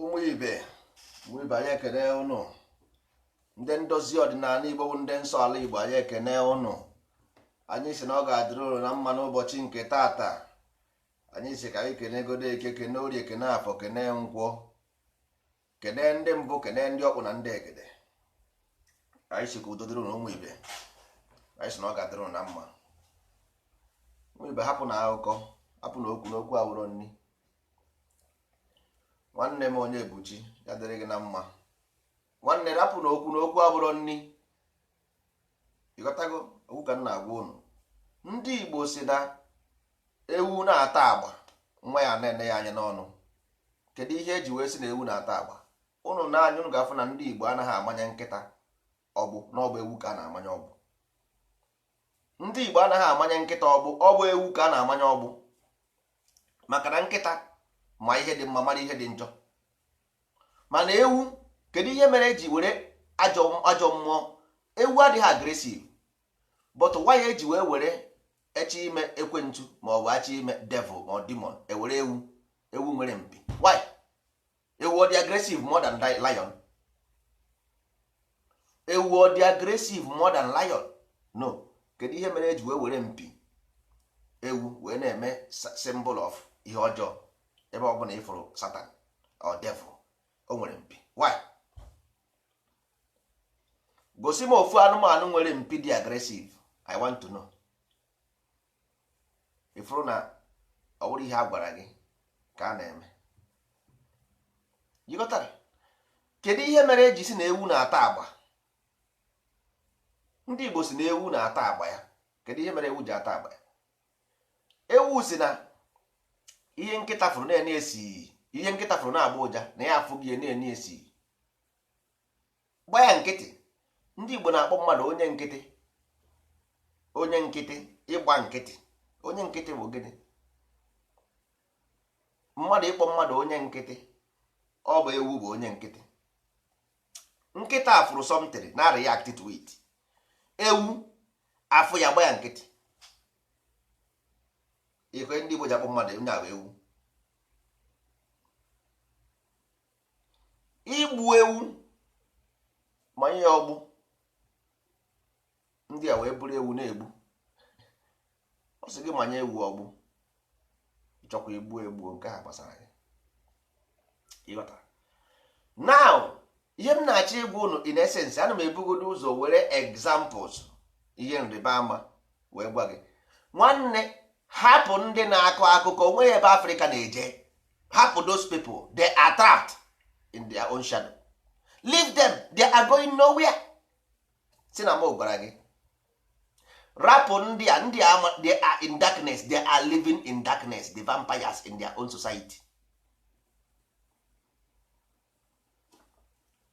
ụmụ ibe ụmụ ibe anyị ekene ụnụ ndị ndozi ọdịnanị igbo bụ ndị nsọ ala igbo anyị ekene ụnụ anyị sị na ọ ga-adịrị ụnụ na mma n'ụbọchị nke taata anyị sị ka anyị kenegodu eke kene orie kene afọ kene nkwọ kene ndị mbụ kene ndị ọkpụ na ndị egede anyị sị ka udo dịrị ụnụ ụmụ ibe anyị sị na ọ ga-adịrị ụnụ na mma ụmụ ibe hapụ nụ akụkọ hapụ nụ okwu na okwu awụrọ nni nwanne m Onyebuchi ya dịrị gị na mma nwanne rapụ nụ okwu na okwu abụrọ nni ị ghọtago okwu ka m na-agwa ụnụ ndị Igbo sị na ewu na-ata agba nwa ya na-ene ya anya n'ọnụ kedu ihe e ji wee sị na ewu na-ata agba ụnụ nee anya ụnụ ga-afụ na ndị Igbo anaha amanye nkịta ọgbụ na ọ bụ ewu ka a na-amanye ọgbụ ndị Igbo anaha amanye nkịta ọgbụ ọ bụ ewu ka a na-amanye ọgbụ maka na nkịta ma ihe dị mma mara ihe dị njọ mana ewu kedu ihe mere e ji were ajọ mmụọ ewu adịha aggressive but why e ji wee were a chọọ ime ekwentu ma ọ bụ a chọọ ime devil ma ọ demon e were ewu ewu nwere mpi why ewu ọ dị aggressive more than lion ewu ọ dị aggressive more than lion no kedu ihe mere e ji wee were mpi ewu wee na-eme symbol of ihe ọjọọ ebe ọ bụla ị fụrụ satan or devil o nwere mpi why gosi m ofu anụmanụ nwere mpi dị aggressive i want to know ị fụrụ na ọ bụrọ ihe a gwara gị ka a na-eme ị ghọtara kedu ihe mere e ji sị na ewu na-ata agba ndị Igbo sị na ewu na-ata agba ya kedu ihe mere ewu ji ata agba ya ewu sị na ihe nkịta fụrụ nenesie ihe nkịta fụrụ na-agbọ ụja na ya afụ ya nenesie gba ya nkịtị ndị Igbo na-akpọ mmadụ onye nkịtị onye nkịtị ịgba nkịtị onye nkịtị bụ gịnị mmadụ ịkpọ mmadụ onye nkịtị ọ bụ ewu bụ onye nkịtị nkịta afụrụ something na-react to it ewu afụ ya gba ya nkịtị ihe ndị Igbo ji akpọ mmadụ onye ahụ ewu ị bụ ewu manye ya ọgbụ ndị a wee bụrụ ewu na-egbu ọ sị gị manye ewu ọgbụ chọkwa igbu egbu nke ha gbasara gị ị ghọtara now ihe m na-achọ ịgwa ụnụ in essence ana m ebugodo ụzọ were examples ihe nrịba ama wee gwa gị nwanne hapụ ndị na-akọ akụkọ o nweghị ebe afrịka na-eje hapụ those people they are trapped in their own shadow leave them they are going nowhere si na m gwara gị rapụ ndị a ndị a they are in darkness they are living in darkness the vampires in their own society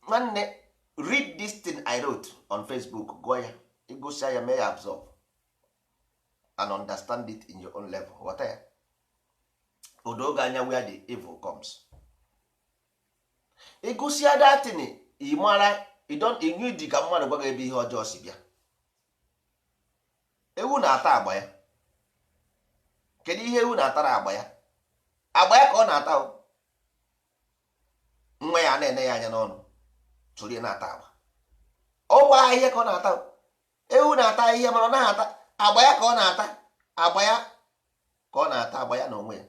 nwanne read this thing i wrote on facebook gụọ ya ị gụsịa ya mee ya absorb and understand it in your own level ghọta ya o doo gị anya where the evil comes ị gụsịa that thing ị mara ihe dị ka mmadụ gwa gị ebe ihe ọjọọ si bịa ewu na-ata agba ya kedu ihe ewu na-atara agba ya agba ya ka ọ na-ata nwa ya na-ene ya anya n'ọnụ soro ya na-ata agba ọ wụ ahịhịa ka ọ na-ata ewu na-ata ahịhịa mana ọ naghị ata agba ya ka ọ na-ata agba ya ka ọ na-ata agba ya n'onwe ya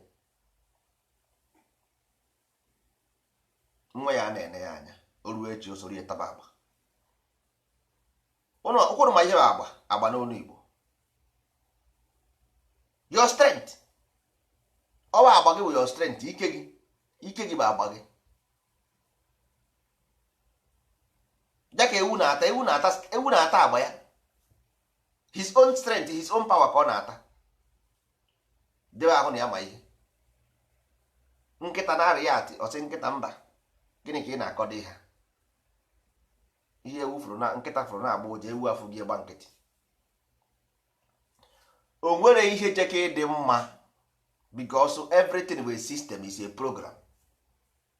nwa ya na-ene ya anya o ruo echi o soro ya taba agba ọkwa ụnụ ma ihe bụ agba agba n'olu Igbo your strength ọ wụ agba gị bụ your strength ike gị ike gị bụ agba gị ya ka ewu na-ata ewu na-ata ewu na-ata agba ya his own strength his own power ka ọ na-ata debe ahụ na ya ma ihe nkịta na-arị ya atị ọ sị nkịta mba gịnị ka ị na-akọdo ha ihe ewu fụrụ na nkịta fụrụ na-agbọ ụja ewu afụgo gba nkịtị o nwere ihe jeko ịdị mma because everything with system is a program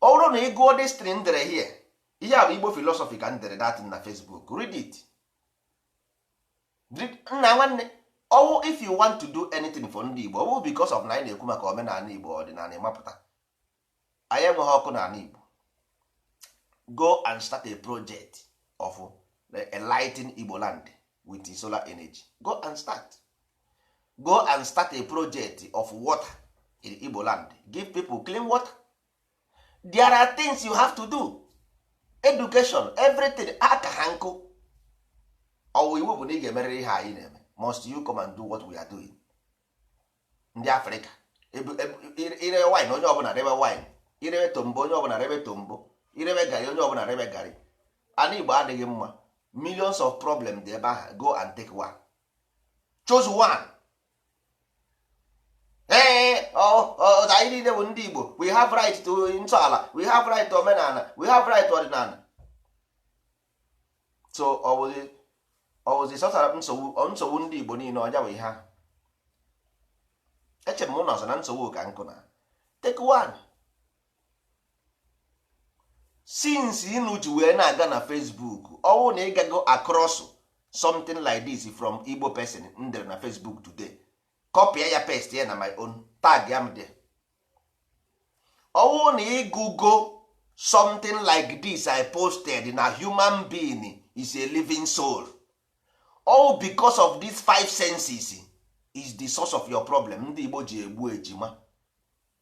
ọ bụrụ na ị gụọ the story m dere here ihe a bụ igbo philosophy ka m dere that thing na facebook read it nna nwanne ọ wụ if you want to do anything for ndị igbo ọ wụ because of na anyị na-ekwu maka omenanị igbo ọdịnanị ịmapụta anyị enweghị ọkụ n'anị igbo go and start a project of enlightening igbo land with solar energy go and start go and start a project of water in igbo land give people clean water there are things you have to do education everything ka a na-ekwu ọ wụ iwu bụ na ị ga-emerịrị ihe anyị na-eme must you come and do what we are doing ndị afrịka i rebe wine onye ọbụla rebe wine i rebe tombo onye ọbụla rebe tombo i rebe gari onye ọbụla rebe gari ana igbo adịghị mma millions of problem dị ebe ahụ go and take one choose one ee anyị niile bụ ndị Igbo we have right to nsọ ala we have right to omenala we have right to ọdịnala so ọ wụzi sọtara nsogbu ndị Igbo niile ọ ja-abụ ihe ahụ eche m na ọzọ na nsogbu ka a na-ekwu na take one since unu ji wee na-aga na Facebook ọ wụrụ na ị gago across something like this from Igbo person ndere na Facebook today copy ya paste ya na my own tag ya m there ọ wụrụ na ị gụgo something like this I posted na human being is a living soul all because of these five senses is the source of your problem ndị Igbo ji egbu ejima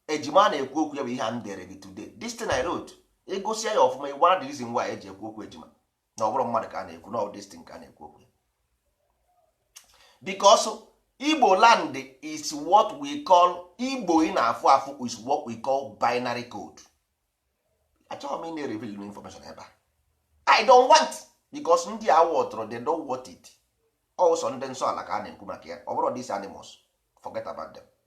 ejima a na-ekwu okwu ya bụ ihe a m dere gị today this thing I wrote ị gụsịa ya ọfụma ị mara the reason why e ji ekwu okwu ejima na ọ bụrọ mmadụ ka a na-ekwu na this thing ka a na-ekwu okwu ya because Igbo land is what we call Igbo ị na-afụ afụ is what we call binary code achọghị m ị na-reveal new information ebe a I don't want because ndị a awọtarọ they don't want it ọ sọ ndị nsọ ala ka a na-ekwu maka ya ọ bụrọ these animals forget about them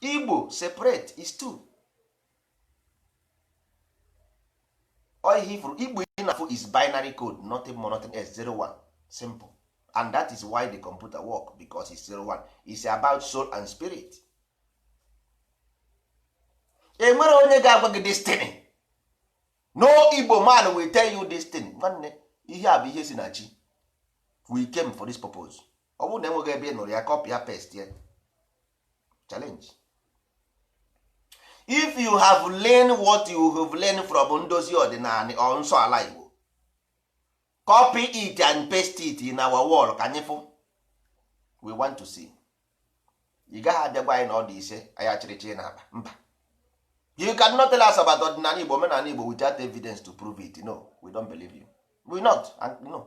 igbo separate is two ọ ihe ị fụrụ igbo ị na-afụ is binary code nothing more nothing else zero one simple and that is why the computer work because it's zero one it's about soul and spirit enwere onye ga-agwa gị this thing no igbo man will tell you this thing nwanne ihe a bụ ihe si na chi we came for this purpose ọ bụrụ na e nwee ebe ị nụrụ ya copy ya paste ya challenge if you have learned what you have learned from ndozi ọdịnala or nsọ ala Igbo copy it and paste it in our wall ka anyị fụ we want to see ị gaghị abịa gwa anyị na ọ dị ise anyị achịrịchị na akpa mba you cannot tell us about ọdịnala Igbo omenala Igbo without evidence to prove it no we don't believe you we not and no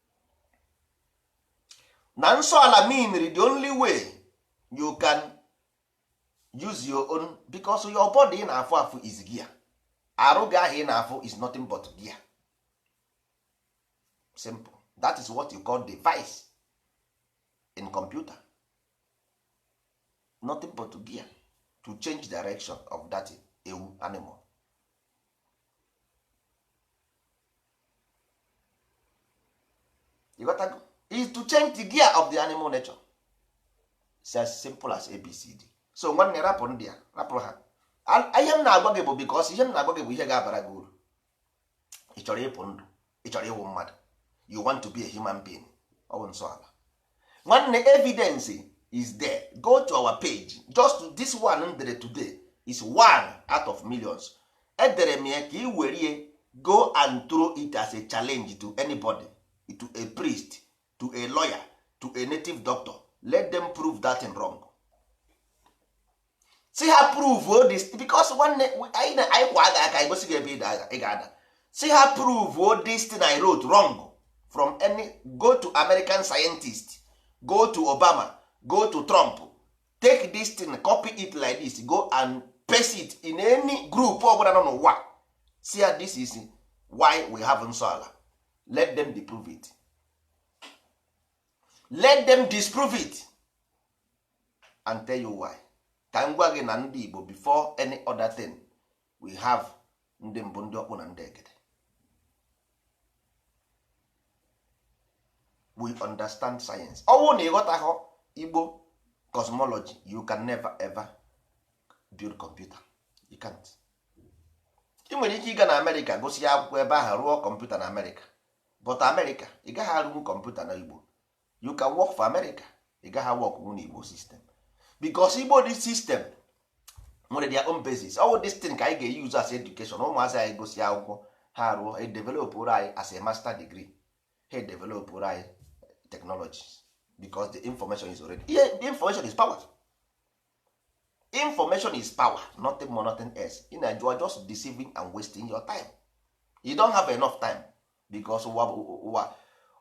na nsọ ala meanri the only way you can use your own because your body ị na-afụ afụ is gear arụ gị ahụ ị na-afụ is nothing but gear simple that is what you call device in computer nothing but gear to change direction of that ewu animal ị ghọtago is to change the gear of the animal nature it's as simple as abcd so nwanne rapụ ndị a rapụrụ ha ihe m na-agwa gị bụ because ihe m na-agwa gị bụ ihe ga-abara gị uru ị chọrọ ịpụ ndụ ị chọrọ ịwụ mmadụ you want to be a human being ọ wụ nsọ ala nwanne evidence is there go to our page just this one m dere today is one out of millions edere m ya ka ị were ya go and throw it as a challenge to anybody to a priest to a lawyer to a native doctor let them prove that thing wrong sị ha prove o this because nwanne anyị anaghị akwa gị aka igosi gị ebe ị ga-ada sị ha prove o this thing I wrote wrong from any go to American scientist go to Obama go to Trump take this thing copy it like this go and paste it in any group ọbụla nọ n'ụwa sị ha this is why we have nsọ ala let them disprove it let them disprove it and tell you why ka m gwa gị na ndị Igbo before any other thing we have ndị mbụ ndị ọkpụ na ndị egede we understand science ọ wụ na ịghọtaghọ Igbo cosmology you can never ever build computer you can't. ị nwere ike ịga na amerịka gụsịa akwụkwọ ebe ahụ rụọ kọmputa na amerịka but amerịka ị gaghị arụnwu kọmputa na igbo you can work for america ị gaghị work wu na igbo system because igbo the system nwere their own basis ọwụ this thing ka anyị ga-e use as education ụmụazị anyị gụsịa akwụkwọ ha rụọ e develop ụrụ anyị as a master degree ha e develop ụrụ anyị technologies because the information is already here the information is power information is power nothing more nothing else ị na you are just deceiving and wasting your time you don't have enough time because ụwa ụwa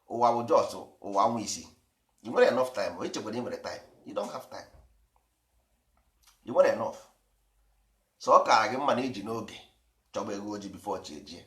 ụwa bụ just ụwa nwa isi ị nwerọ enough time o ị chekwara ị nwere time you don't have time ị nwerọ enough so ọ kara gị mma na iji n'oge chọba ewu ojii before chi ejie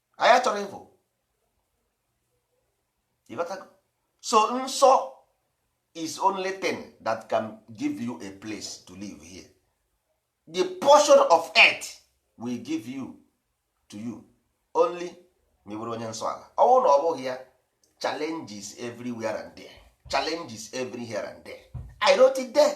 anyị achọrọ evil ịghọtago so nsọ is only thing that can give you a place to live here the portion of earth will give you to you only ma ị bụrụ onye nsọ ala ọ bụrụ na ọ bụghị ya challenges everywhere and there challenges every here and there i wrote it there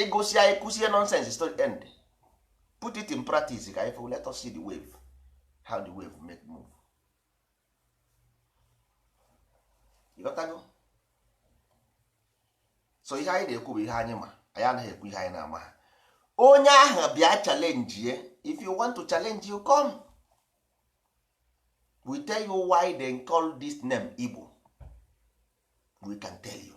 ịgụsịa ịkụzie nonsense story end put it in practice ka ị fụ let us see the wave how the wave make move ịghọtago so ihe anyị na-ekwu bụ ihe anyị ma anyị anaghị ekwu ihe anyị na-amaha onye ahụ bịa challenge ye if you want to challenge you come we tell you why they call this name Igbo we can tell you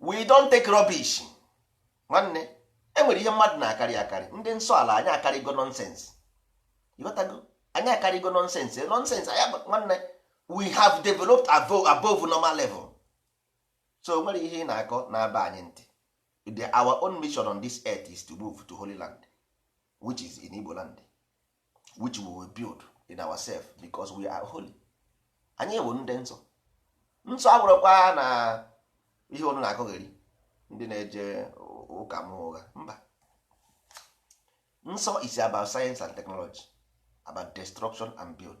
we don't take rubbish nwanne enwere ihe mmadụ na-akarị akarị ndị nsọ ala anyị akarịgo nonsense ịghọtago anyị akarịgo nonsense eh, nonsense anya nwanne we have developed above, above normal level so nwere ihe ị na-akọ na-aba anyị ntị the our own mission on this earth is to move to holy land which is in Igbo land which we will build in ourself because we are holy anyị wụ ndị nsọ nsọ abụrọkwanụ ihe unu na-akọgheri ndị na-eje ụka ma ụgha mba nsọ is about science and technology about destruction and build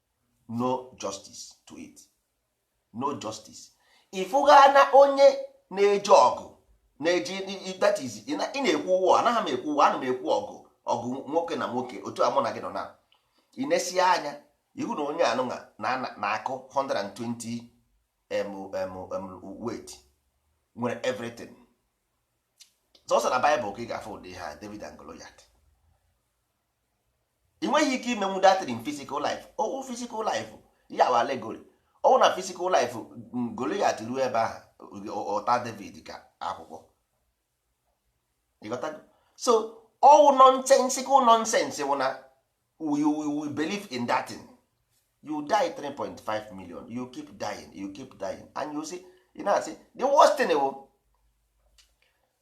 no justice to it no justice ịfụgha na onye na-eje ọgụ na-eji that is ị na-ekwu war anaghị m ekwu war ana m ekwu ọgụ ọgụ nwoke na nwoke otu a mụ na gị nọ na i nesi anya ị hụ na onye anụnwa na-akụ 120 weight nwere everything sọsọ na Bible ka ị ga-afụ ụdị ihe a David and Goliath ị nweghị ike imenwu that thing in physical life ọ wụhọ physical life ya wụ allegory ọ wụrụ na physical life mm, Goliath ruo ebe ahụ ọ taa David ka akwụkwọ so ọ wụ oh, nonsensical nonsense wụ na we, we, we believe in that thing. you die 3.5 million you keep dying you keep dying and you see ị na-asị the worst thing wụ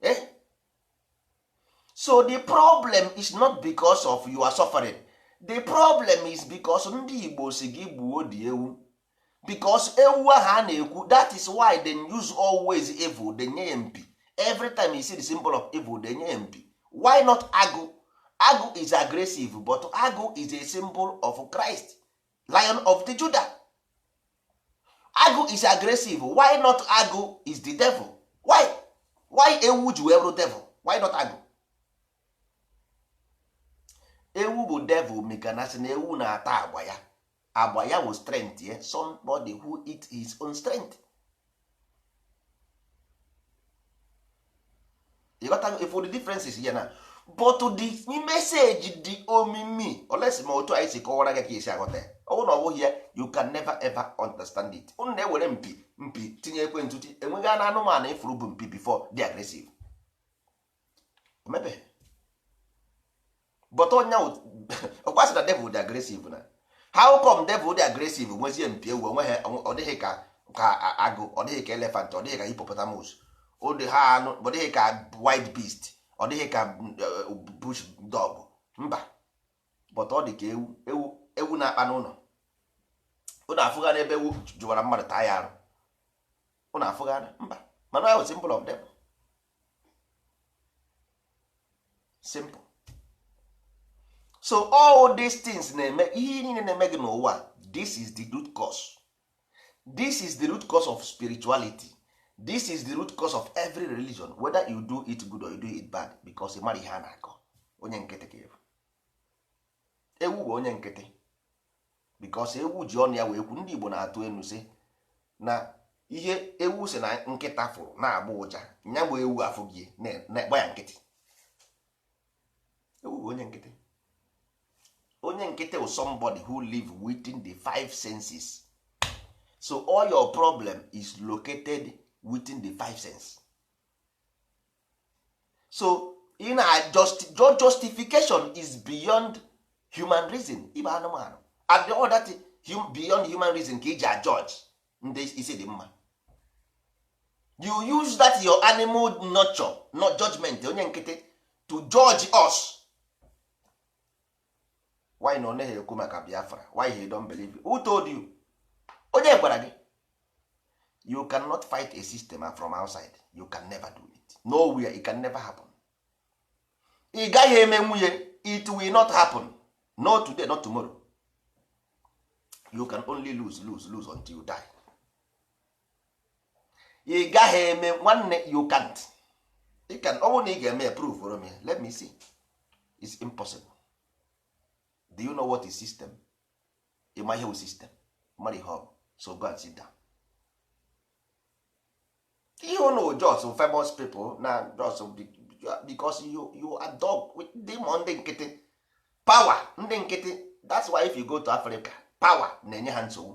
eh? so the problem is not because of you are suffering the problem is because ndị igbo sị gị gbuodị ewu because ewu ahụ a na-ekwu that is why they use always evil they nye ya mpi every time you see the symbol of evil they nye ya mpi why not agụ agụ is aggressive but agụ is a symbol of christ lion of the judah agụ is aggressive why not agụ is the devil why why ewu ji wee bụrụ devil why not agụ ewu bụ devil maka na asị na ewu na-ata agba ya agba ya bụ strength ya somebody who eat his own strength ị ghọtago for the differences ya na but the message dị omimi unless ma otu anyị si kọwara gị ka e si aghọta ya ọ wụ na ọ bụghị ya you can never ever understand it unu na-ewere mpi mpi tinye ekwensu enweghị anụ anụmanụ ị fụrụ bu mpi before dị aggressive o mebeghị but onye ọ kwa sị na devil dị aggressive na how come devil dị aggressive nwezie mpi ewu o nweghị ọ dịghị ka ka agụ ọ dịghị ka elephant ọ dịghị ka hippopotamus ọ dịghị ka anụ ọ dịghị ka wild beast ọ dịghị ka uh, bush dog mba but ọ dị ka ewu ewu ewu na-akpa n'ụlọ ụnụ afụgorị ebe ewu chụwara mmadụ taa ya arụ ụnụ afụgorị mba mana ọ bụ symbol of devil simple so all these things na-eme ihe niile na-eme gị n'ụwa this is the root cause this is the root cause of spirituality this is the root cause of every religion whether you do it good or you do it bad because ị mara ihe a na-akọ onye nkịtị ka ị bụ ewu bụ onye nkịtị because ewu ji ọnụ ya wee kwu ndị Igbo na-atụ inu sị na ihe ewu sị na nkịta fụrụ na-agbọ ụja nya bụ ewu afụgo ya na-agba ya nkịtị ewu bụ onye nkịtị onye nkịtị bụ somebody who live within the five senses so all your problem is located within the five senses. so ị na just your justification is beyond human reason ị bụ anụmanụ and the other thing hum, beyond human reason ka i ji ajudge ndị isi dị mma you use that your animal nature na judgment onye nkịtị to judge us why na ọ naghị ekwu maka biafra why he don believe who told you onye gwara gị you cannot fight a system from outside you can never do it nowhere it can never happen ị gaghị eme nwunye it will not happen not today not tomorrow you can only lose lose lose until you die ị gaghị eme nwanne you can't ị can ọ bụrụ na ị ga-eme prove for me let me see it's impossible do you know what is system ị ma ihe system mara ihe ọ bụ so go and sit down ihe ụnụ just famous people na just because you, you are dog with demon ndị nkịtị power ndị nkịtị that's why if you go to Africa power na-enye ha nsogbu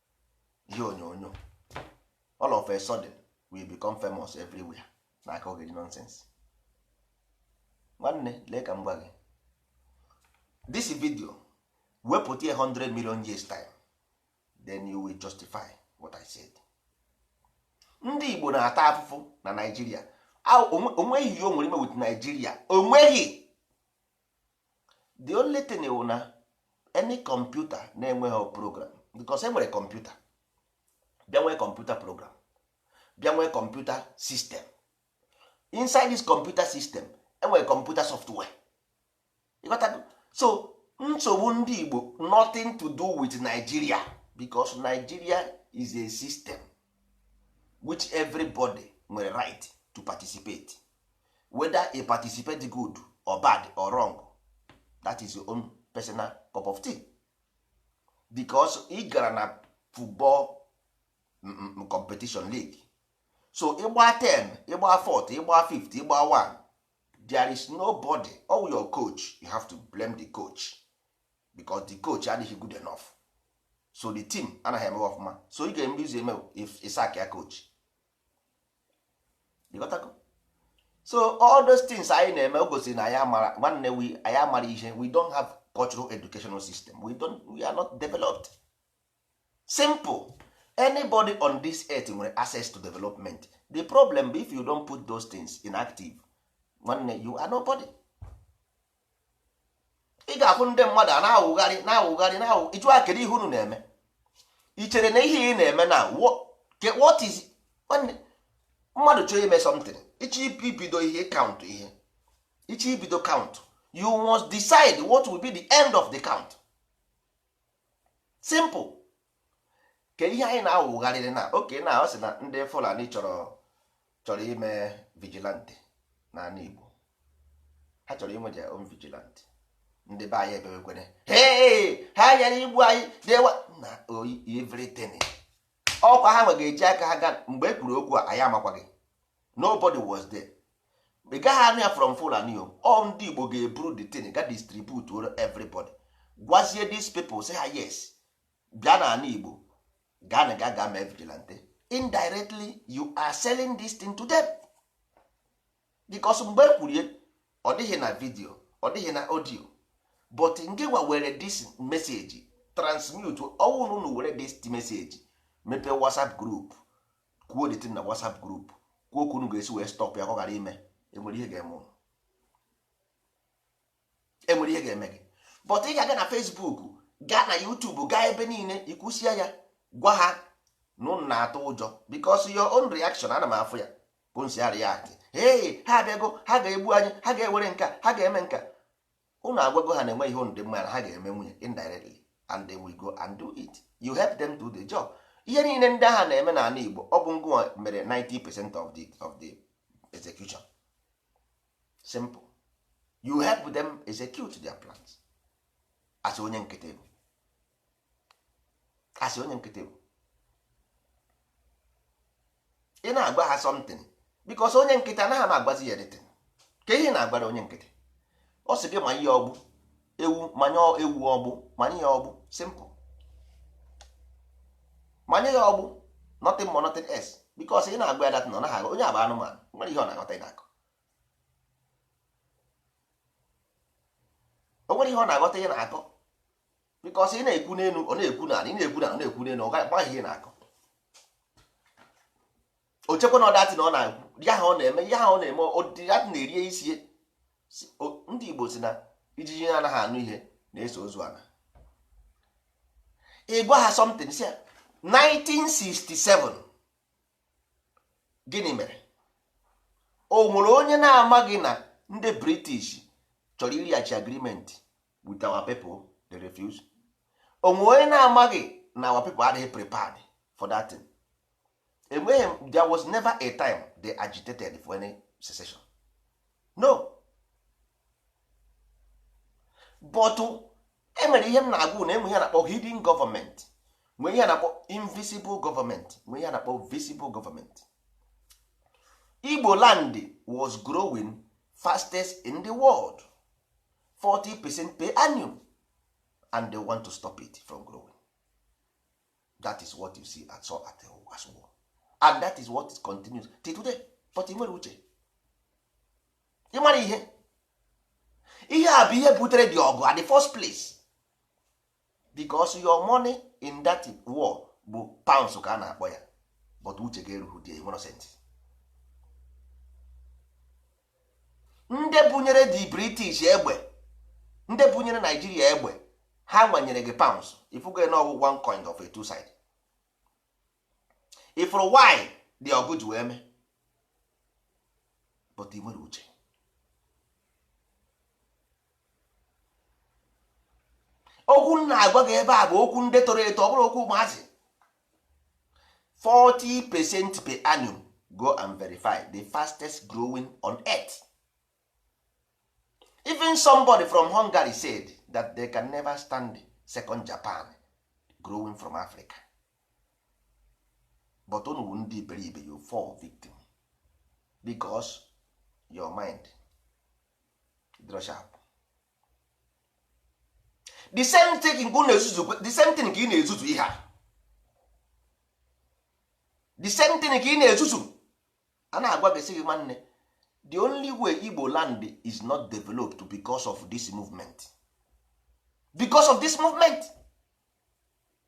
ihe onyonyo all of a sudden we become famous everywhere na-akọgheri nonsense nwanne lee ka m gwa gị this video wepụta 100 million years time then you will justify what I said ndị Igbo na-ata afụfụ na Naịjirịa onweghị ihe o nwere ime with Naịjirịa onweghị the only thing wụ na any computer na-enweghị program because e nwere kọmputa bịa nwee kọmputa program bịa nwee kọmputa system inside this computer system enwere kọmputa software ịghọtago so nsogbu ndị Igbo nothing to do with Nigeria because Nigeria is a system which everybody nwere right to participate whether ị participate good or bad or wrong that is your own personal cup of tea because ị gara na football competition league so ị gba 10 ị gba 4th ị gba 5th ị gba 1 there is nobody all your coach you have to blame the coach because the coach adịghị good enough so the team anaghị eme ọfụma so ị ga-emezi eme ị sackịa coach so all those things anyị na-eme o gosiri na anyị amarọ nwanne anyị amarọ ihe we don't have cultural educational system we don't we are not developed simple anybody on this earth nwere access to development the problem bụ if you don't put those things in active nwanne you are nobody ị ga-afụ ndị mmadụ a na-awụgharị na-awụgharị na ị jụọ ha kedu ihe unu na-eme i chere na ihe ị na-eme na what is mmadụ chọọ ime something ị chọọ ibido ihe count ihe ị chọọ ibido count you must decide what will be the end of the count simple kee ihe anyị na-awụgharịrị na oke na ọ sị na ndị Fulani chọrọ chọrọ ime vigilante n'ala Igbo ha chọrọ inwe their own vigilante ndị be anyị ebewekwere hey ha yara igbu anyị dewa na oyi everything ọkwa ha nwa ga-eji aka ha ga mgbe e kwuru okwu a anyị amakwaghị nobody was there ị gaghị anụ ya from Fulani o ọ ndị Igbo ga-eburu the thing ga distributeoro everybody gwazie these people say ha yes bịa n'ala Igbo gana ga ga mee vigilante indirectly you are selling this thing to them because mgbe e kwuru ya ọ dịghị na vidio ọ dịghị na audio but ngị nwa were this message transmit ọ wụ unu were this message mepee whatsapp group kwuo the thing na whatsapp group kwuo ka unu ga-esi wee stop ya ka ọ ghara ime enwere ihe ga-eme unu enwere ihe ga-eme gị but ị ga-aga na Facebook gaa na YouTube gaa ebe niile ikwusia ya gwa ha na ụnụ na-atụ ụjọ because your own reaction ana m afụ ya ka ụnụ si a-react ee ha abịago ha ga-egbu anyị ha ga-ewere nke a ha ga-eme nke a ụnụ agwago ha na-enwe ihe ụnụ dị mma na ha ga-eme ụnụ indirectly and they will go and do it you help them do the job ihe niile ndị agha na-eme n'ala Igbo ọ bụ ụnụwa mere 90 percent of the of the execution simple you help them execute their plans as onye nkịtị bụ as onye nkịtị bụ ị na-agwa ha something because onye nkịtị anaghị agwazi ya anything ka ihe a na-agwara onye nkịtị ọ sị gị manye ọgbụ ewu manye ewu ọgbụ manye ya ọgbụ simple manye ya ọgbụ nothing more nothing else because ị na-agwa ya that thing ọ naghị onye ahụ bụ anụmanụ nwere ihe ọ na-aghọta ị na-akọ o nwere ihe ọ na-aghọta ị na-akọ because ị na-ekwu n'elu ọ na-ekwu n'ala ị na-ekwu n'ala ọ na-ekwu n'elu ọ maghị ihe ị na-akọ o chekwa na ọ that thing ọ na-ekwu ya ha ọ na-eme ya ha ọ na-eme ụdị ya na-erie isi ndị Igbo sị na ijiji na-anaghị anụ ihe na-eso ozu ala ị gwa ha something sị 1967 gịnị mere o nwere onye na-amaghị na ndị british chọrọ ịreach agreement with our people they refuse o nwere onye na-amaghị na our people adịghị prepared for that thing enweghị there was never a time they agitated for any secession no but enwere ihe m na-agwa ụnụ enwere ihe a na-akpọ hidden government nwee ihe a na-akpọ invisible government nwee ihe a na-akpọ visible government igbo land was growing fastest in the world 40 percent per annum and they want to stop it from growing that is what you see at so at as war and that is what continues till today but ị nwere uche ị mara ihe ihe a bụ ihe butere the ọgụ at the first place because your money in that war bụ pounds ka a na-akpọ ya but uche gị erughị dị ị nwere sense ndị bunyere the british egbe ndị bunyere naijiria egbe hanwa nyere gị pounds ị fụgo na ọ wụ one coin of a two side ị fụrụ why the ọgụ ji wee mee but i nwere uche okwu m na-agwa gị ebe a bụ okwu ndị toro eto ọ bụrọ okwu ụmụazị 40 percent per annum go and verify the fastest growing on earth even somebody from Hungary said that they can never stand second Japan growing from Africa but unu wụ ndị iberibe you fall victim because your mind dịrọ sharp the same thing ka ị na-ezuzu ihe a the same thing ka ị na-ezuzu a na-agwa gị sị gị nwanne the only way Igbo land is not developed because of this movement because of this movement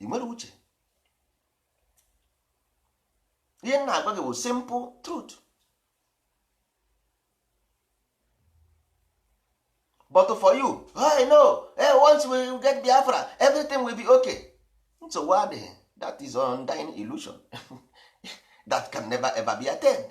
i nwere uche ihe m na-agwa gị wụ simple truth but for you hey no hey, once we get Biafra everything will be okay nsogbu adịghị that is undying illusion that can never ever be attained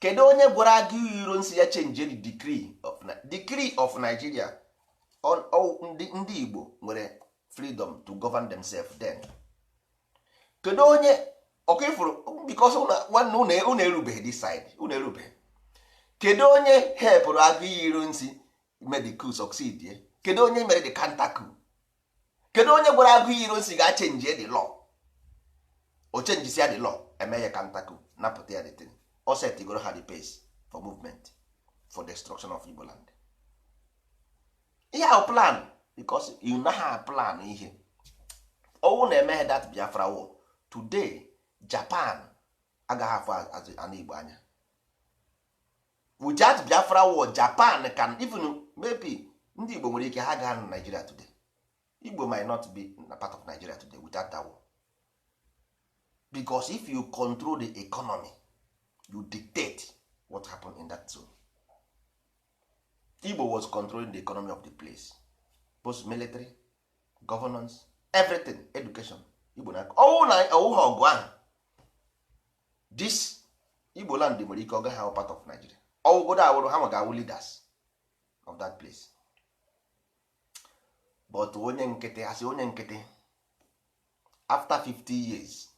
kedu onye gwara Aguiyi Ironsi ya change the decree of Nigeria ndị Igbo nwere freedom to govern themselves then kedu onye okay ị fụrụ because nwanne unu erubeghị this side unu erubeghị kedu onye helpụrụ Aguiyi Ironsi made the coup succeed kedu onye mere the counter coup kedu onye gwara Aguiyi Ironsi gaa change the law o chenjisia the law e mee ya counter coup napụta ya the thing o setigoro ha the pace for movement for destruction of Igbo land ihe a wụ plan because you na ha plan ihe ọwụ na emeghị that Biafra war today Japan agaghị afụ ana Igbo anya without biafra war japan can even maybe ndị igbo nwere ike ha agaghị anọ nigeria today igbo might not be a part of nigeria today without that war because if you control the economy you dictate what happen in that zone igbo was controlling the economy of the place both military governance everything education igbo ọwụ na ọwụha ọgụ ahụ this igbo land nwere ike ọ gaghị awụ part of nigeria ọwụgodu ọwụrụ ha nwa ga-awụ leaders of that place but onye nkịtị asị onye nkịtị after 50 years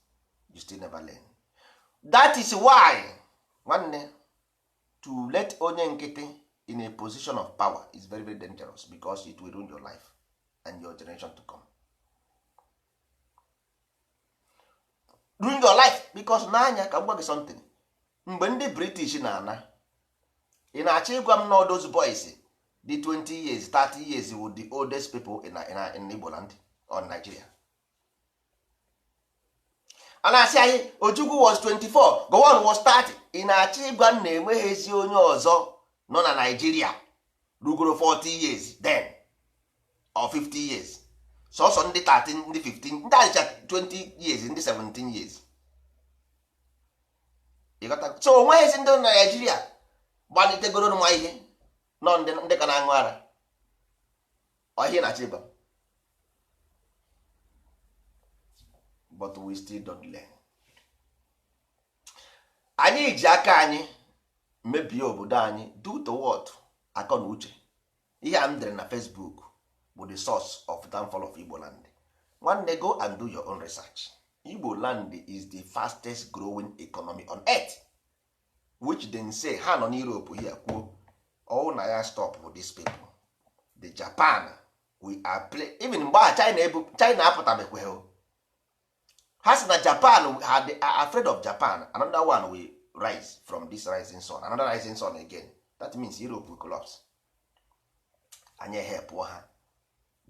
you still never learn that is why nwanne to let onye nkịtị in a position of power is very very dangerous because it will ruin your life and your generation to come during your life because nee anya ka m gwa gị something mgbe ndị british na-ana ị na-achọ ịgwa m na all those boys dị 20 years 30 years wụ the oldest people in, in, in Igbo land or Nigeria a na-asị anyị Ojukwu was 24 Gowon was 30 ị na-achọ ịgwa m na enweghịzi onye ọzọ nọ na Nigeria rugoro 40 years then or 50 years sọsọ ndị 13 ndị 15 ndị dịcha 20 years ndị 17 years so onweghịzi ndị na naijiria gbalitegoro ma ihe na ọ ndị ka na-aṅụ ara ọ ha na-achịba but we still don't learn. anyị ji aka anyị mebie obodo anyị due to what akọ na uche ihe a m dere na Facebook bụ the source of downfall of Igbo land nwanne go and do your own research Igbo land is the fastest growing economy on earth which dem say ha nọ n'Europe here kwuo ọwụ na ya stop for this people the Japan we are play even mgbe ahụ China ebu China apụtabekweghị ha si na japan ha dị afraid of japan another one will rise from this rising sun another rising sun again that means europe will collapse anyị ehelpụọ ha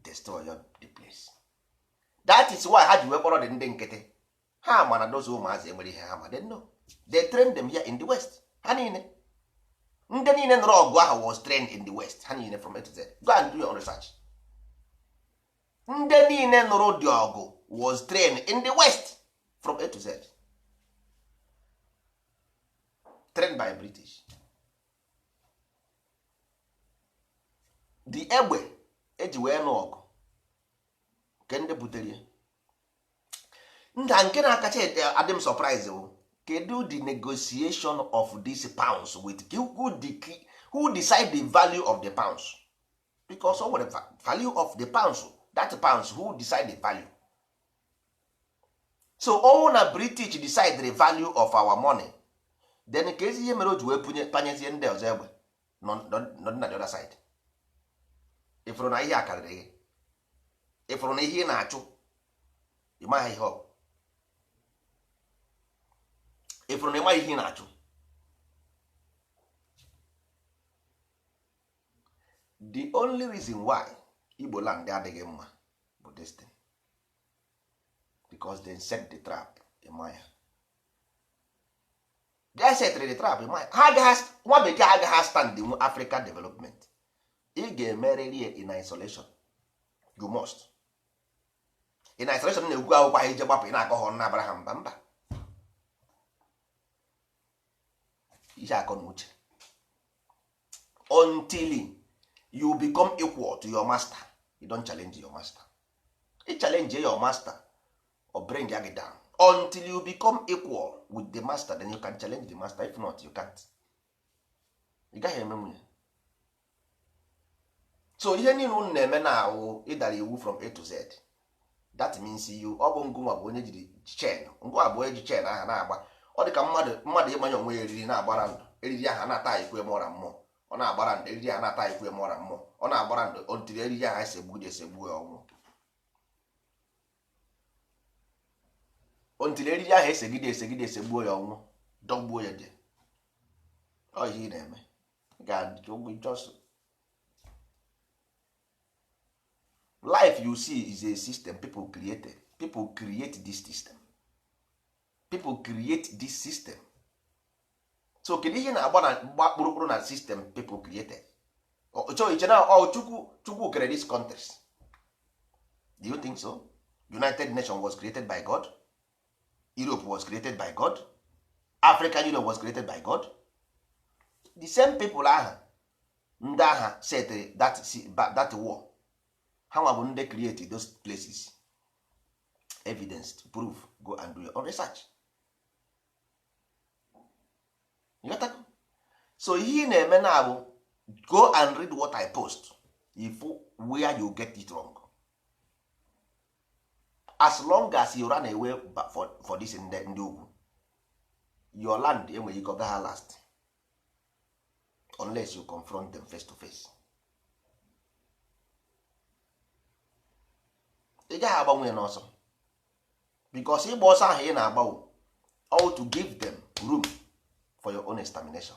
destroy the place that is why ha ji wee kpọrọ dị ndị nkịtị ha ma na those ụmụazị enwerọ ihe ha ma they know they train them here in the west ha niile ndị niile nụrụ ọgụ ahụ was trained in the west ha niile from A to Z go and do your own research ndị niile nụrụ the ọgụ was trained in the west from a to z trained by british the egbe eji wee nụ ọgụ kee ndị butere ya nda nke na-akacha adị m surprise bụ kedu the negotiation of this pounds with who decide the value of the pounds because o nwere value of the pounds that pounds who decide the value so ọwụ na british decide the value of our money then keezi ihe mere o ji wee bunye panyezie ndị ọzọ egbe nọ na the other side ị fụrụ na ihe a karịrị gị ị fụrụ na ihe ị na-achụ ị maghị ihe ọ bụ ị fụrụ na ị maghị ihe ị na-achụ the only reason why igbo land adịghị mma bụ this thing because they set the trap ime ya they set the trap ime ya ha agaghị nwa bekee agaghị stand nwe african development ị ga-emerịrị in isolation you must in isolation na-agụ akwụkwọ ahụ iji gbapụ ị na-akọ ha na abraham mba mba ihe akọ na uche until you become equal to your master you don't challenge your master ị challenge your master ọ bring gị down until you become equal with the master then you can challenge the master if not you can't ị gaghị emenwu ya so ihe niile unu na-eme na awụ ị dara iwu from a to z that means you ọ bụ ngị nwa bụ onye jiri chain ngị nwa bụ onye ji chain aha na-agba ọ dị ka mmadụ mmadụ ịmanye onwe ya eriri na-agba round eriri aha na-atightịkwu more and more ọ na-agba round eriri aha na-atightịkwu more and more ọ na-agba round until eriri aha esegide esegbu ya ọ nwụọ until eriri aha esegide esegide esegbuo ya ọ nwụọ dọgbuo ya dị ọ ihe ị na-eme ga-ajụ just life you see is a system people created people create this system people create this system so kedu ihe ị na-agba na-agba gburugburu na system people created ị che na ọ chukwu chukwu kere these countries do you think so united nation was created by god Europe was created by God African Union was created by God the same people aha ndị aha setịrị that, that war ha nwa bụ ndị create those places evidence to prove go and do your own research so ihe ị na-eme now bụ go and read what I post if where you get it wrong as long as you run away for, for this ndị ugwu your land enweghị ike ọ gaghị last unless you confront them face to face ị gaghị agbanwu ya n'ọsọ because ịgba ọsọ ahụ ị na-agba wụ all to give them room for your own extermination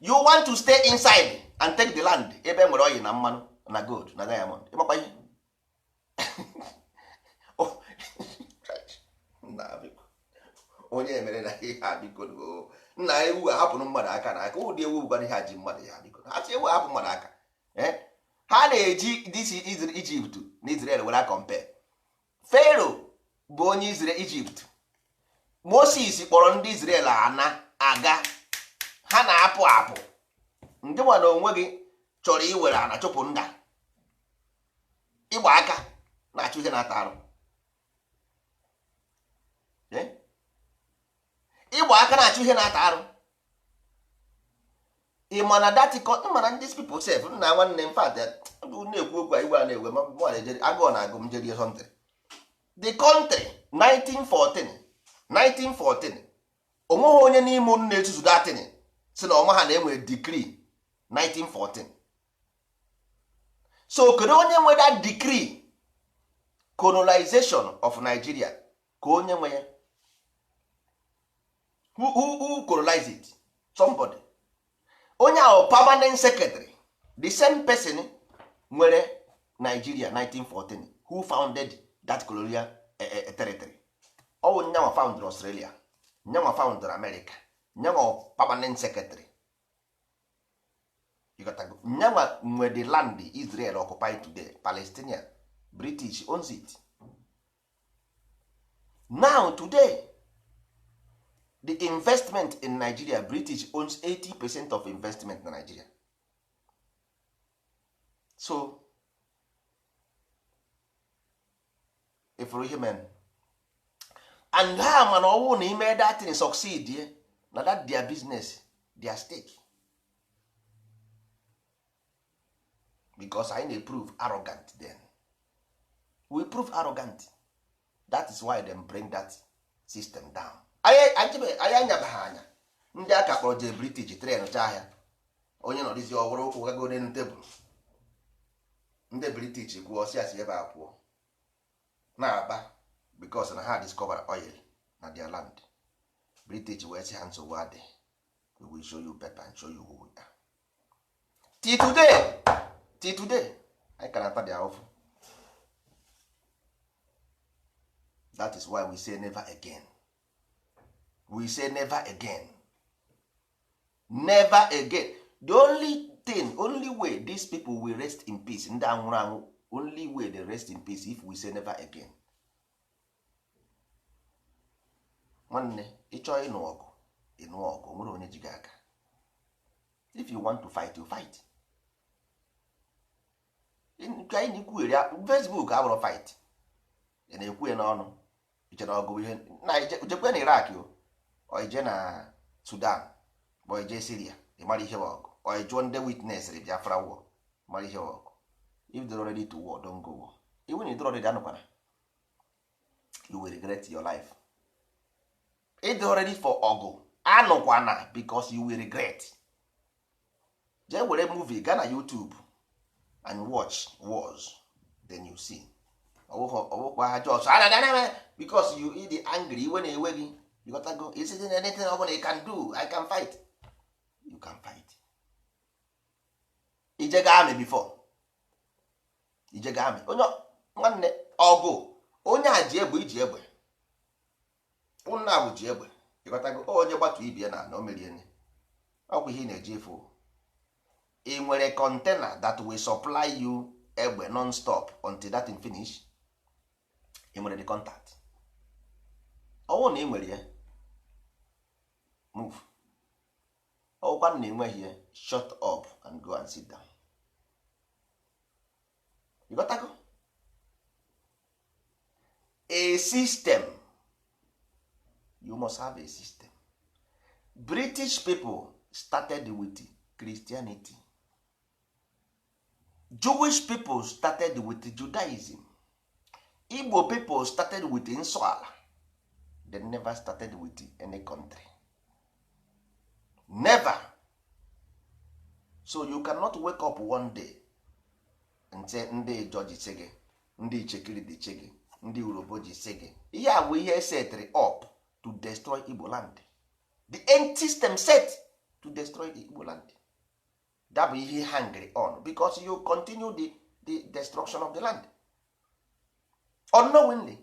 you want to stay inside and take the land ebe nwere oil na mmanụ na gold na diamond ị makwa ihe oh. onye mere na ihe a biko nna ewu hapụ nụ mmadụ aka na aka ụdị ewu bụkwa ihe a ji mmadụ ya biko a sị ewu hapụ mmadụ aka eh? ha na-eji this Egypt na Israel were compare fero bụ onye Izrel Ijipt Moses kpọrọ ndị Izrel ana aga ha na-apụ apụ ndị nwe ana onwe gị chọrọ iwere ana chụpụ ndị a ịgba aka na-achụ ihe na-ata arụ ịgba aka na-achụ ihe na-ata arụ ị ma na datikọ ị ma na ndị people sef nna nwanne m fat na-ekwu okwu iwe a na-ewe m ma mụ na-ejeri agụụ na-agụ m jeri something the country 1914 1914 onweghị onye n'ime unu na-etuzu datin sị na ọ maha na enwere decree 1914 so kedu onye nwe that decree colonization of Nigeria ka onye nwe ya who, who, who colonize it somebody onye ahụ permanent secretary the same person nwere Nigeria 1914 who founded that colonial eh, eh, eh, territory ọwụ nyanwa founded Australia nyanwa founded America nyanwa permanent secretary nyanwa nwe the land Israel occupied today Palestinian British owns it now today the investment in nigeria british owns 80 percent of investment na nigeria so ị fụrụ ihe men and ha ma na ọ wụ na ime datin succeed ye na that their business their stake because anyị na-prove arrogant then we prove arrogant that is why dem bring that system down anyị anyaba ha anya ndị aka kpọrọ je british trainụchaa ha onye nọdụzi o wuru ụkwụ gago n'elu tebụl ndị british kwuo ọ sị ha si ebe a pụọ naba because na ha discover oil na their land british wee sị ha nsogbu adị we will show you pepper and show you who we are till today till today anyị ka na-ata dị ahụfụ that is why we say never again we say never again never again the only thing only way these people will rest in peace ndị anwụrụ anwụ only way they rest in peace if we say never again nwanne ị chọọ ịnụ ọgụ ịnụ ọgụ o nwere onye ji gị aka if you want to fight you fight nke a ị na-ekwugheri Facebook abụrọ fight ị na-ekwu ya n'ọnụ ị che na ọgụ ihe na jekwe na Iraq o ọ ị jee na Sudan ma ọ ị jee Syria ị mara ihe bụ ọgụ ọ ị jụọ ndị witness ri Biafra war mara ihe bụ ọgụ ị dịrọ ready to war don't go war even ị dịrọ ready anụkwana you will regret your life ịdị ready for ọgụ anụkwana because you will regret jee were movie gaa na YouTube and watch wars then you see ọwụkwa ha jos anaganeme because you ịdị angry iwe na-ewe gị you gotta go is it anything ọbụla you can do I can fight you can fight ị jega army before ị jega army onye nwanne ọgụ onye a ji egbe iji egbe unu abụọ ji egbe ịghọtago onye gbatu ibe ya na na o merie nne ọkwa ihe ị na-eji efu ị nwere container that will supply you egbe non-stop until that thing finish ị nwere the contact ọ wụ na ị nwere ya move ọ wụkwa na ị nweghị ya shut up and go and sit down ịghọtago a system you must have a system british people started with christianity Jewish people started with Judaism Igbo people started with nsọ ala they never started with any country never so you cannot wake up one day and say ndị Ịjọ ji si gị ndị Itsekiri dị chi gị ndị Urhobo ji si gị ihe a bụ ihe esetịrị up to destroy igbo land the end system set to destroy the igbo land that bụ ihe hangịrị on because you continue the, the destruction of the land unknowingly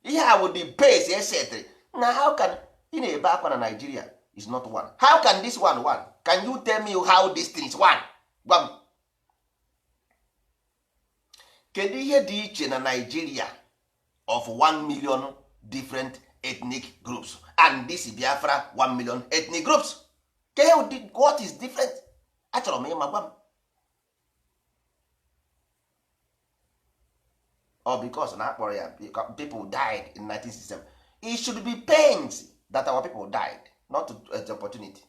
ihe a bụ the base esetịrị now how can ị na-ebe akwa na Nigeria is not one how can this one one can you tell me how this thing is one gwa m kedu ihe dị iche na Nigeria of 1 million different ethnic groups and this Biafra 1 million ethnic groups what is different achọrọ m ịma gwa m or because na akpọrọ ya people died in 1967 it should be pains that our people died not as opportunity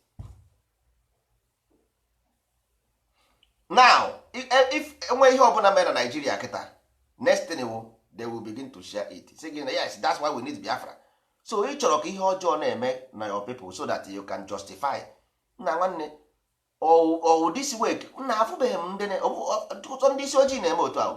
now e, if enwe ihe ọbụla mere na Nigeria kịta next thing wụ they will begin to share it sị gị na yes that's why we need Biafra so ị chọrọ ka ihe ọjọọ na-eme na your people so that you can justify nna nwanne ọwụ this week nna afụbeghị m ụdị ndị isi ojii na-eme otu ahụ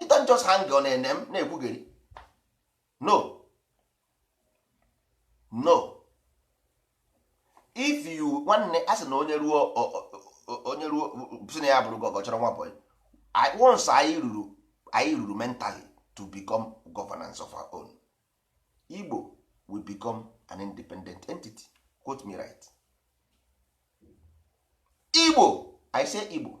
you don't just hang on a name na-ekwugheri no no if you nwanne a sị na onye ruo onye ruo sị na ya bụrụ gọgọ chọrọ nwa boy once anyị ruru anyị ruru mentally to become governance of our own igbo will become an independent entity quote me right igbo i say igbo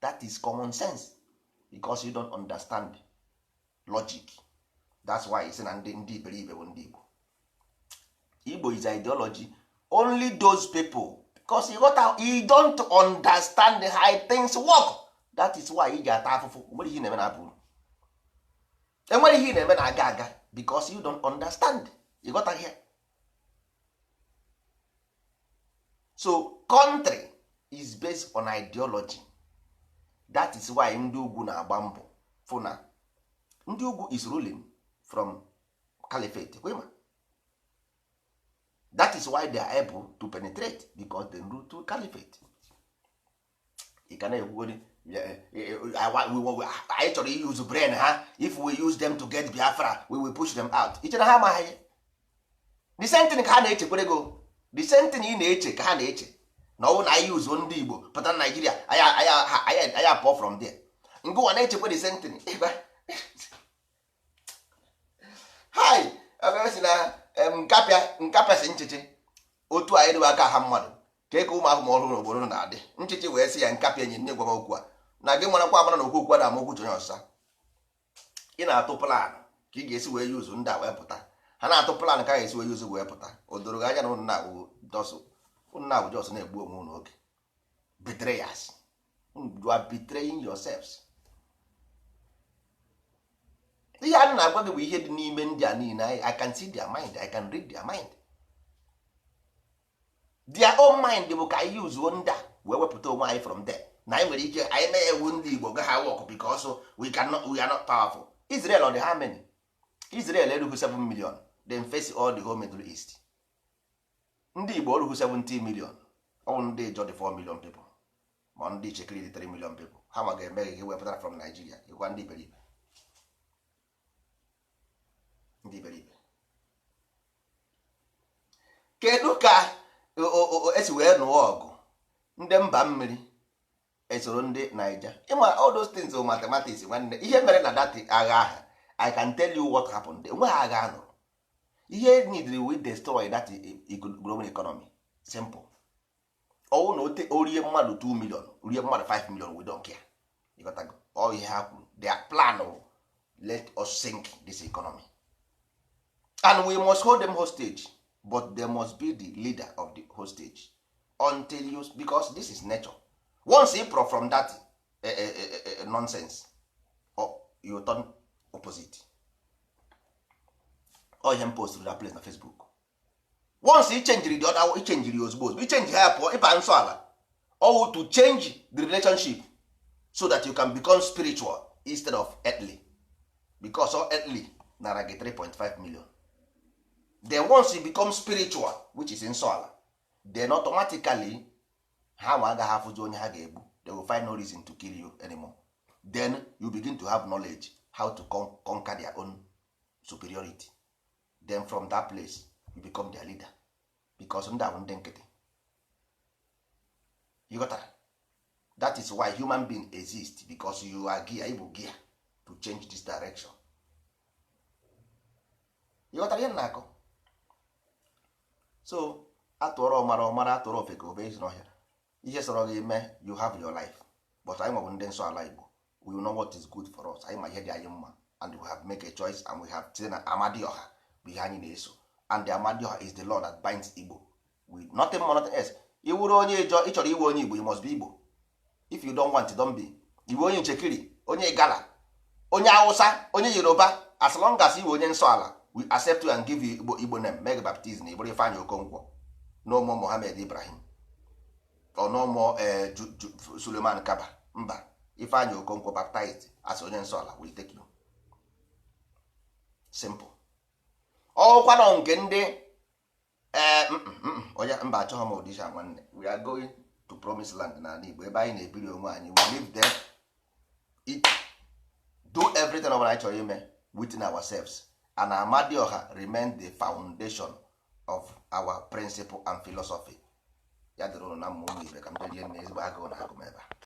that is common sense because you don't understand logic that's why ị sị na ndị ndị iberibe bụ ndị Igbo Igbo is ideology only those people because ị ghọta, you don't understand how things work that is why i ji ata afụfụ nwere ihe na-eme na-aba uru enwere ihe na-eme na-aga aga because you don't understand ị ghọtaha so country is based on ideology that is why ndị ugwu na-agba mbọ fụ na ndị ugwu is ruling from caliphate kwema that is why they are able to penetrate because they rule through caliphate ị ka na-ekwugodi anyị chọrọ use brain ha if we use them to get Biafra we will push them out i chere ha amaghị the same thing ka ha na-echekwere go the same thing ị na-eche ka ha na-eche na ọwụ na anyị use ndị Igbo pụta na Naịjirịa anyị apụọ from there ngụwa na-echekwa the same thing hi ebe sị na nkapịa nkapịa sị nchichi otu anyị debe aka ha mmadụ ka eke ụmụ ahụ ma ọrụ n'obodo na-adị nchichi wee sị ya nkapị enyi ndị gwara okwu a na gị marakwa amara na okwu okwu a na-ama okwu chonye ọsa ị na-atụ plan ka ị ga-esi wee use ndị a wee pụta ha na-atụ plan ka ha ga-esi wee use wee pụta o doro gị anya na ụnụ naabọ just ụnụ naabọ just na-egbu onwe ụnụ oge betrayers you are betraying yourselves ihe a na-agwa gị bụ ihe dị n'ime ndị a niile I can see their mind I can read their mind their own mind bụ ka anyị use ndị a wee wepụta onwe anyị from there na anyị nwere ike anyị mee ewu ndị Igbo gaghị a-work because we cannot we are not powerful Israel ọ dị how many Israel erughị 7 million ha face all the whole Middle East ndị Igbo o rughị 70 million ọ bụ ndị Ijaw dị 4 million people ma ndị Itsekiri dị 3 million people ha nwa ga-eme gị wepụtara from Nigeria ịgwa ndị iberibe ndị iberibe kedu ka e si wee nụọ ọgụ ndị mba mmiri esoro ndị naija ị ma all those things bụ mathematics nwanne ihe mere na that agha ahụ i can tell you what happened enweghị agha a nụrụ ihe e needri we destroy that global economy simple ọwụ na o rie mmadụ 2 million rie mmadụ 5 million we don't care ị ghọtago ọ ihe ha kwuru their plan bụ let us sink this economy and we must hold them hostage but they must be the leader of the hostage until you because this is nature once ị pụrụ from that uh, uh, uh, uh, nonsense oh, you turn opposite ọ ihe m postụrụ that place na Facebook once ị changeri the other ị changeri ya ozugbo ozugbo ị change ha ya pụọ ịba nsọ ala ọwụ to change the relationship so that you can become spiritual instead of earthly because ọ earthly nara gị 3.5 million then once you become spiritual which is nsọ ala then automatically ha nwa agaghị afụzi onye ha ga-egbu they will find no reason to kill you anymore then you begin to have knowledge how to conquer their own superiority then from that place you become their leader because ndị a wụ ndị nkịtị ị ghọtara? that is why human being exist because you are gear ị bụ gear to change this direction ị ghọtara ihe na-akọ so a tụọrọ ọmara ọ mara a tụọrọ ofeke o fee isi n'ọhịa ihe sọrọ gị mee you have your life but anyịnwa bụ ndị nsọ ala Igbo we know what is good for us anyị ma ihe dị anyị mma and we have make a choice and we have seen na amadioha bụ ihe anyị na-eso and the amadioha is the law that binds igbo we nothing more nothing else ị wụrụ onye ịjọ ị chọrọ ịwụ onye igbo you must be igbo if you don't want don't be ị wụ onye itsekiri onye igala onye awụsa onye yoruba as long as ị wụ onye nsọ ala we accept you and give you igbo igbo name make baptism na ị bụrụ ifeanyị okonkwo no more mohammed ibrahim or no more eh, Suleman Kaba mba Ifeanyi Okonkwo baptized as onye nsọ ala we take you simple ọ wụkwanụ nke ndị eh, mm, mm, mm, onye mba achọghị m odisha nwanne we are going to promise land na ala Igbo ebe anyị na-ebiri onwe anyị we live there eat do everything ọbụla anyị chọrọ ime within ourselves and Amadioha remain the foundation of our principle and philosophy ya dịrị ụnụ na mma ụmụ ibe ka m je lie nni ezigbo agụụ na-agụ m ebe a